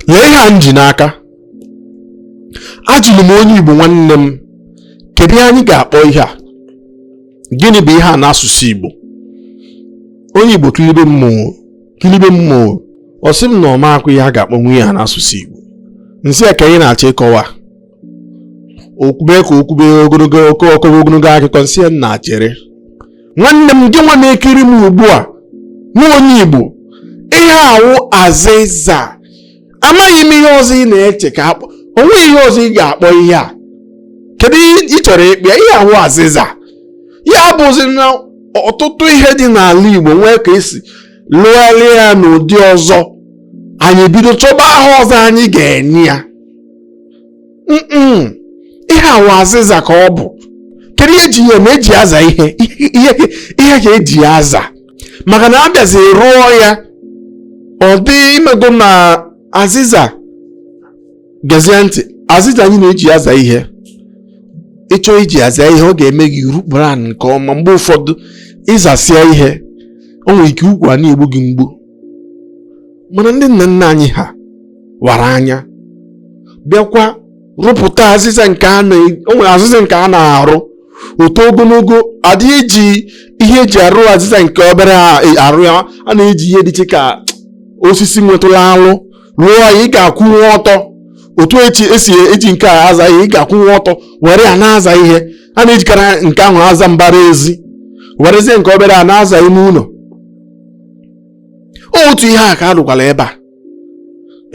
lee ihe a m ji n'aka ajụrụ m onye igbo nwanne m kedu ihe anyị ga-akpọ ihe a gịnị bụ ihe a n'asụsụ igbo onye igbo kilibe m ọ kilibe m ọ sị m na ọ makwa ihe a ga-akpọ nwa ihe a n'asụsụ igbo m sị ya ka anyị na-achọ ịkọwa o kwube ka o kwube ogologo okwu ọ kọwa ogologo akụkọ m sị ya nna chere nwanne m gị nwa na-ekiri m ugbu a nwa onye igbo ihe a wụ azịza amaghị m ihe ọzọ ị na-eche ka a kpọọ o nweghị ihe ọzọ ị ga-akpọ ihe a kedu ihe ị chọrọ ịkpọ ya? ihe a wụ azịza ya bụzi na ọtụtụ ihe dị n'ala igbo nwee ka esi lụgharịa ya n'ụdị ọzọ anyị bido chọba aha ọzọ anyị ga-enye ya ihe a wụ azịza ka ọ bụ kedu ihe eji ya eme eji aza ihe ihe ka eji ya aza maka na a bịazi rụọ ya ọ dị imego na azịza gezie ntị azịza anyị na-eji aza ihe ịchọọ iji aza ihe ọ ga-eme gị i rukpuru ala nke ọma mgbe ụfọdụ ị zasịa ihe o nwere ike ukwu a na-egbu gị mgbu mana ndị nna nna anyị ha wara anya bịakwa rụpụta azịza nke a na o nwere azịza nke a na-arụ o too ogologo adịghị eji ihe eji arụ azịza nke obere a- e- arụ ya a na-eji ihe dị iche ka osisi nwetụlụ alụ rụọ ya ị ga-akwụnwe ọtọ otu eji esi eji nke a aza ihe ị ga-akwụnwe ọtọ were ya na-aza ihe a na-ejikarị nke ahụ aza mbara ezi werezie nke obere a na-aza ime ụlọ otu ihe a ka a rụkwara ebe a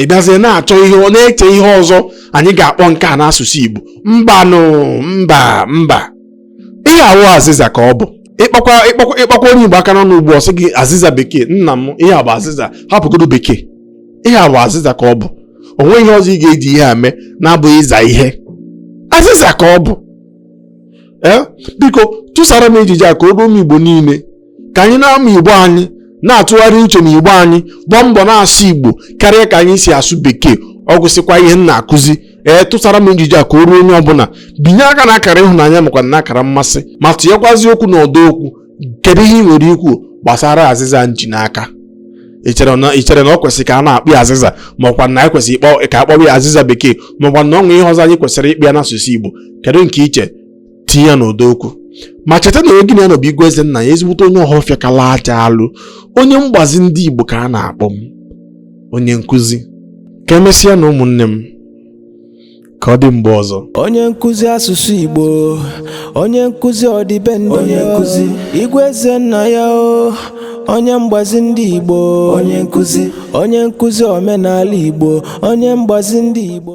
ị bịazie na-achọ ihe ọ na-eche ihe ọzọ anyị ga-akpọ nke a n'asụsụ Igbo mbanụ mba mba ihe a wụ azịza ka ọ bụ ịkpakwa ịkpakwa ịkpakwa onye Igbo aka n'ọnụ ugbu a ọ sị gị azịza bekee nna m ihe a bụ azịza hapụgodo bekee ihe a bụ azịza ka ọ bụ o nweghị ihe ọzọ ị ga-eji ihe a mee na-abụghị ịza ihe azịza ka ọ bụ ee biko tụsara m ejije a ka o ruo ụmụ Igbo niile ka anyị na-amụ igbo anyị na-atụgharị uche na igbo anyị gbaa mbọ na-asụ igbo karịa ka anyị si asụ bekee ọ gwụsịkwa ihe m na-akụzi ee tụsara m njiji a ka o ruo onye ọbụla binye aka na akara ịhụnanya makwa na akara mmasị ma tụnyekwazi okwu na ọdọ okwu kedu ihe ị nwere ikwu gbasara azịza m ji n'aka i chere na i chere na ọ kwesịrị ka a na-akpọ ya azịza maọkwa na anyị kwesịrị ịkpọ ka a kpọwa ya azịza bekee maọkwa na o nwee ihe ọzọ anyị kwesịrị ịkpọ ya n'asụsụ igbo kedu nke i che tinye ya n'ọdọ okwu ma cheta na onye gị na ya nọ bụ igwe eze nna ya ezigbote onye ọhọfịa kala aja alụ onye mgbazi ndị Igbo ka a na-akpọ m onye nkụzi ka emesịa na ụmụnne m ka ọ dị mgbe ọzọ onye nkụzi asụsụ Igbo onye nkụzi ọdịbendị onye nkụzi igwe eze nna ya o onye mgbazi ndị Igbo onye nkụzi omenala Igbo onye mgbazi ndị Igbo